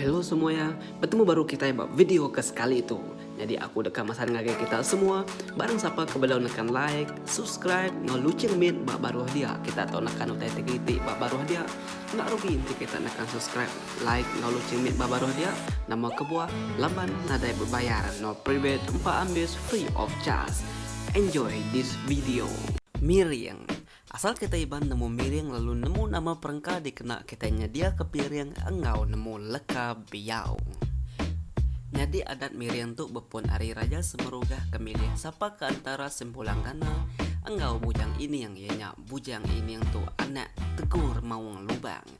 Hello semua ya, bertemu baru kita ba video ke sekali tu. Jadi aku deka masan ngagai kita semua, barang siapa ke belum nekan like, subscribe, no lucing min ba baruh dia. Kita tu nekan utai tigiti ba baruh dia. Enda rugi enti kita nekan subscribe. Like lalu cimit ba baruh dia nama kebuah laban nadai bebayar no private empa ambis free of charge enjoy this video. Miring. Asal kitai Iban nemu miring lalu nemu nama perengka dikena kitai nyedia ke piring enggau nemu leka biau. Nyadi adat miring tu bepun ari Raja Semerugah ke milih sapa ke antara Sempulang Gana enggau Bujang Ining iya nya Bujang Ining tu anak Tegur Maung Lubang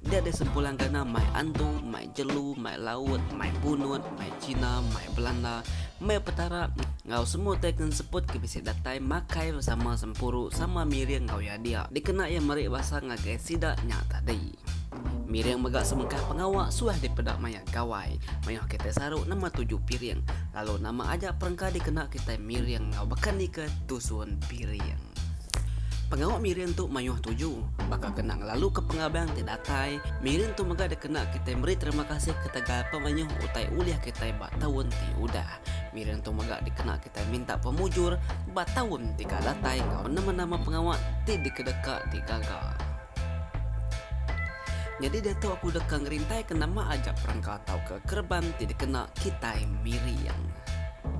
Dia deh sempulang gana mai antu, mai jelu, mai laut, mai punut, mai cina, mai belanda, mai petara enggau semua tai ke enseput ke bisi datai makai besama sempuru sama miring enggau iya dia dikena iya meri basa ngagai sida nya tadi. Miring mega sebengkah pengawa suah dipeda maya Gawai mayuh kitai saru nama tuju piring lalu nama aja perengka dikena kitai miring enggau bekanika tusun piring. Pengawa miri entu mayuh tuju baka kena ngelaluka pengabang ti datai. Miri entu mega dikena kitai meri terima kasih ketegal pemayuh utai ulih kitai ba taun ti udah. Miri entu mega dikena kitai minta pemujur ba taun ti ka datai enggau nama-nama pengawa ti dikedeka ti gaga. Nyadi diatu aku deka ngerintaika nama aja perengka tauka kereban ti dikena kitai Miriang.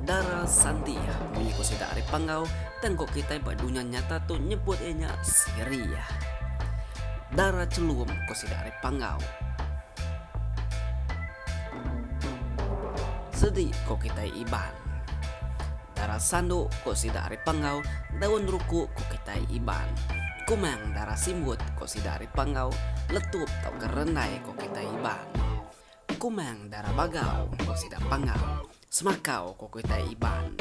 Dara Santi munyi ku sida ari Panggau tengku kitai ba dunya nyata tu nyebut iya nya Siri. Dara Chelum ku sida ari Panggau. Sedi ku kitai Iban. Dara sandu, ko sida ari Panggau, daun ruku, ko kitai Iban. Kumang, dara simbut, ko sida ari Panggau, letup tauka rendai, ko kitai Iban. Kumang, dara bagau, ko sida Panggau, semakau, ko kitai Iban.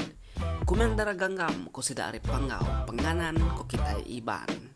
Kumang, dara ganggam, ko sida ari Panggau, penganan, ko kitai Iban.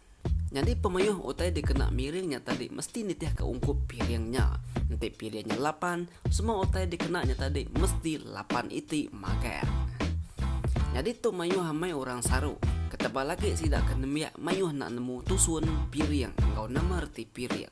Nyadi pemeyoh utai dikena miring nya tadi mesti nitihka ungkup piring nya. Enti piring nya lapan, semua utai dikena nya tadi mesti lapan iti magang. Nyadi tu mayoh amai orang saru. Ketebal agi sida ke nembiak mayoh enda nemu tusun piring enggau nama reti piring.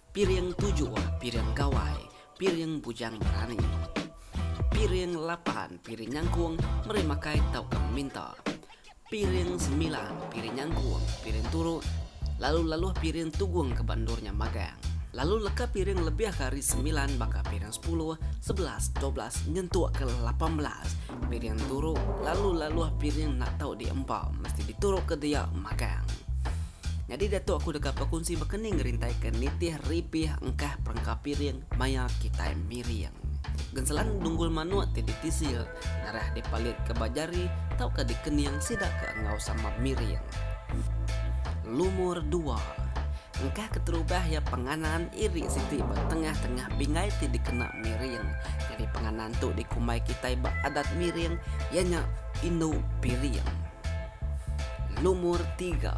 Piring tuju, piring gawai, piring bujang berani. Piring lapan, piring nyangkung, meri makai tauka minta. Piring semilan, piring nyangkung, piring turu, lalu laluh piring tugung ke ba endur nya magang. Lalu leka piring lebih ke ari semilan baka piring sepuluh, sebelas, dua belas nyentuk ke lapan belas piring turu lalu laluh piring enda tau diempa mesti dituruk ke dia magang. Nyadi diatu aku deka bekunsi bekening ngerintai ke nitih ripih engkah perengka piring maya kitai miring. Genselan dunggul manuk ti ditisil ngarah dipalit ke ba jari tauka dikening sida ke enggau sama miring. Lumur dua. Engkah keterubah iya penganan iri siti ba tengah-tengah pinggai ti dikena miring. Nyadi penganan tu dikumbai kitai ba adat miring iya nya indu piring. Lumur tiga.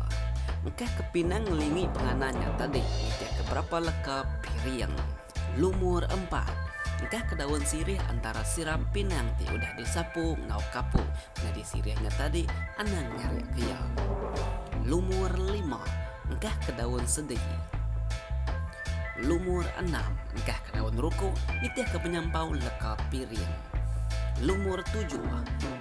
Engkah ke pinang ngelingi pengana nya tadi nitihka berapa leka piring. Lumur empat. Engkah ke daun sirih antara siram pinang ti udah disapu enggau kapu nyadi sirih nya tadi anang nyarikka iya. Lumur lima. Engkah ke daun sedi. Lumur enam. Engkah ke daun ruku nitihka penyampau leka piring. Lumur tujuh.